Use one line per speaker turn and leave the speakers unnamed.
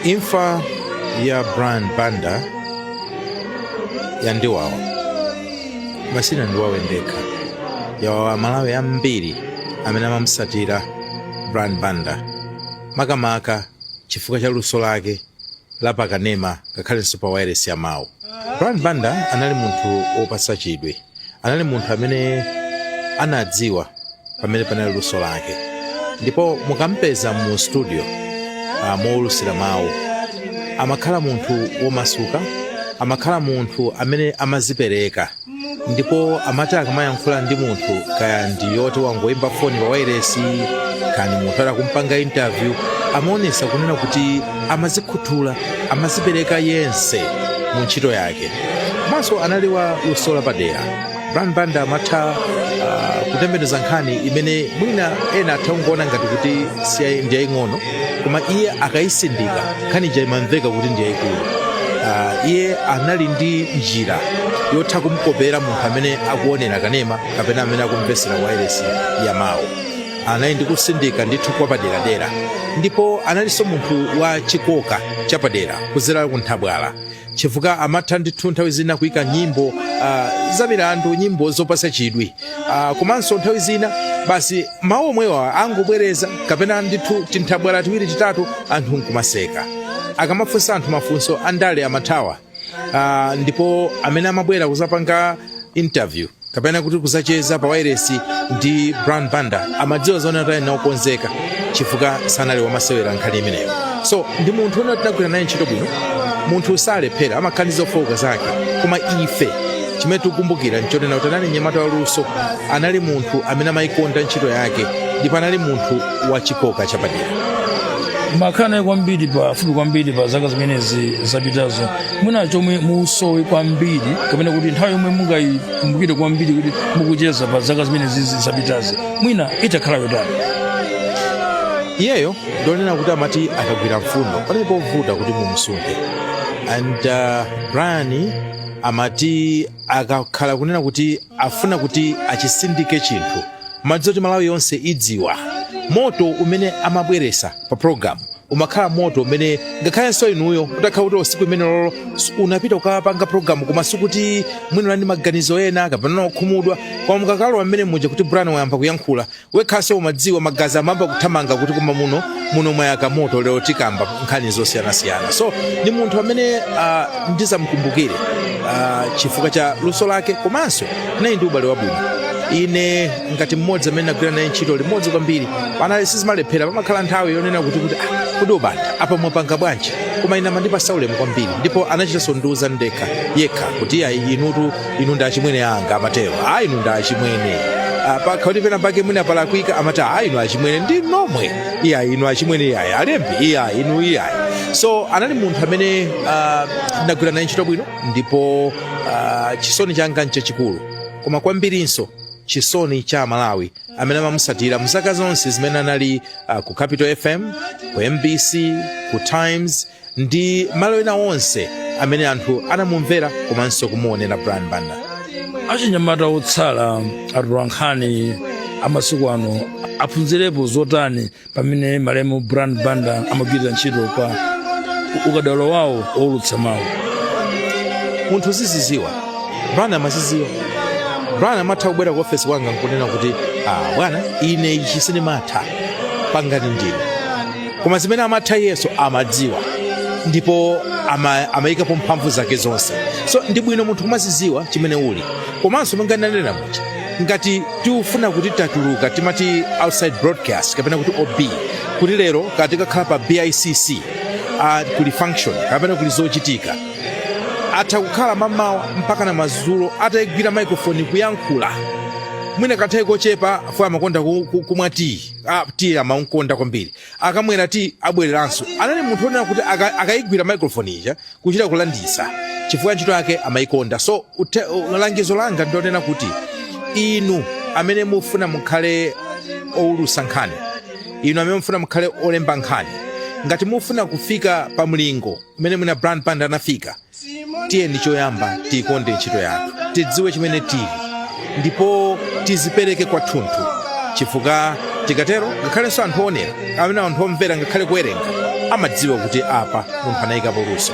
imfa ya brian banda yandiwawa osati ndawawidwa ndekha yawawa amalawi ambiri amene amamusatira brian banda makamaka chifukwa cha luso lake la pakanema ngakhalenso pa wairesi ya mawu brian banda anali munthu wopatsa chidwi anali munthu amene anadziwa pamene panali luso lake ndipo mukampeza mu studio uh, mowulusira mawu amakhala munthu womasuka amakhala munthu amene amazipereka ndipo amati akamayankhula ndi munthu kaya ndi woti wangoyimba foni pa wairesi kaya ndi munthu ali kumpanga interview amaonesa kunena kuti amazikhuthula amazipereka yense mu ntchito yake komanso anali wa luso lapadera brian banda amatha uh, kutembenuza nkhani imene mwina ena atha kungoona ngati kuti ndi yaying'ono koma iye akayisindika nkhani ija imamveka kuti ndi yayikulu uh, iye anali ndi njira yotha kumkopera munthu amene akuonera kanema kapena amene akumvesera wailesi ya mawu anali ndi kusindika ndithu kwapaderadera ndipo analinso munthu wa chikoka chapadera kuzera ku nthabwala chifukwa amatha ndithu nthawi zina kuyika nyimbo ah, za milandu nyimbo zopasa chidwi Ah, komanso nthawi zina basi mawu omwewa angobwereza kapena ndithu tinthabwala tiwiri titatu anthu nkumaseka akamafunsa anthu mafunso andale amathawa uh, ndipo amene amabwera kuzapanga interview kapena kuti kuzacheza pa wairesi ndi brian banda amadziwa zonena kuti ali naokonzeka chifukwa sanali wamasewera nkhani imeneyo so ndi munthu woti tinagwira naye ntchito bwino munthu salephera amakhala ndi zofooka zake koma ife chimene tikukumbukira nchonena kuti anali mnyamata waluso anali munthu amene amayikonda ntchito yake ndipo anali munthu wa chikoka chapadera
mwakhala naye kwambiri pafupi kwambiri pa zaka zimenezi zapitazo mwina chomwe musowe kwambiri kapena kuti nthawi yomwe mungayikumbukire kwambiri kuti mukucheza pa zaka zimenezi zapitazi mwina itakhala
yotani iyeyo ndonena kuti amati akagwira mfundo panali povuta kuti mumsunthe and uh, brian amati akakhala kunena kuti afuna kuti achisindike chinthu mumadziwa kuti malawi yonse idziwa moto umene amabweresa pa programu umakhala moto umene ngakhalenso inuyo utakhala kuti tsiku limenelolo s- unapita kukapanga programu koma ndi kuti mwina muli ndi maganizo ena kapena okhumudwa koma mukakalowa mmene muja kuti brian wayamba kuyankhula wekhaso umadziwa magazi amamba kuthamanga kuti koma muno mwayaka moto lero tikamba nkhani zosiyanasiyana so ndi munthu amene uh, ndizamukumbukire uh, chifukwa cha luso lake komanso naye ndi ubale wabwino ine ngati mmodzi amene nagwira naye ntchito limodzi kwambiri panali sizimalephera pamakhala nthawi yonena kuti kuti ah, kodi a Banda apa mwapanga bwanji koma ine amandipasa ulemu kwambiri ndipo anachitanso ndiuza ndekha yekha kuti ayi inutu inu ndi achimwene anga amatero a inu ndi achimwene Ah, pakakhala kuti pena pake mwina palakwika amati a inu achimwene ndi nomwe iyayi inu achimwene iyayi alembi iyayi inu iyayi so anali munthu amene ah, nagwira naye ntchito bwino ndipo ah, chisoni changa nchachikulu koma kwambirinso chisoni cha amalawi amene amamusatira mzaka zonse zimene anali uh, ku capital fm ku mbc ku times ndi malo ena onse amene anthu anamumvera komanso kumuonera brian banda
achinyamata otsala atolankhani amasiku ano aphunzirepo zotani pamene malemu brian banda amagwirira ntchito pa ukadaulo wawo wowulutsa
mawu munthu uziziziwa brian amaziziwa brian amatha kubwera ku ofesi kwanga nkunena kuti ah, bwana ine ichi sindimatha pangani ndine koma zimene amatha iyenso amadziwa ndipo ama- amayikapo mphamvu zake zonse so ndi bwino munthu kumazidziwa chimene uli komanso monga ndanena muja ngati tiufuna kuti tatuluka timati outside broadcast kapena kuti ob kuti lero katikakhala pa bicc uh, kuli function kapena kuli zochitika atha kukhala mamawa mpaka na mazulo atayigwira microphone kuyankhula mwina kanthawi kochepa fo amakonda ku- ku- kumwa tiyi Ah, tiyi amamkonda kwambiri akamwera tiyi abwereranso anali munthu wonena kuti aka- akayigwira microphone ija kuchita kulanditsa chifukwa ntchito yake amayikonda so ute- u- langizo langa ndilonena kuti inu amene mufuna mukhale owulusa nkhani inu amene mufuna mukhale olemba nkhani ngati mufuna kufika pa mlingo umene mwina brian banda anafika tiyeni choyamba tiikonde ntchito yathu tidziwe chimene tili ndipo tizipereke kwathunthu chifukwa tikatero ngakhalenso anthu oonera amene anthu omvera ngakhale kuwerenga amadziwa kuti apa munthu anayikapo luso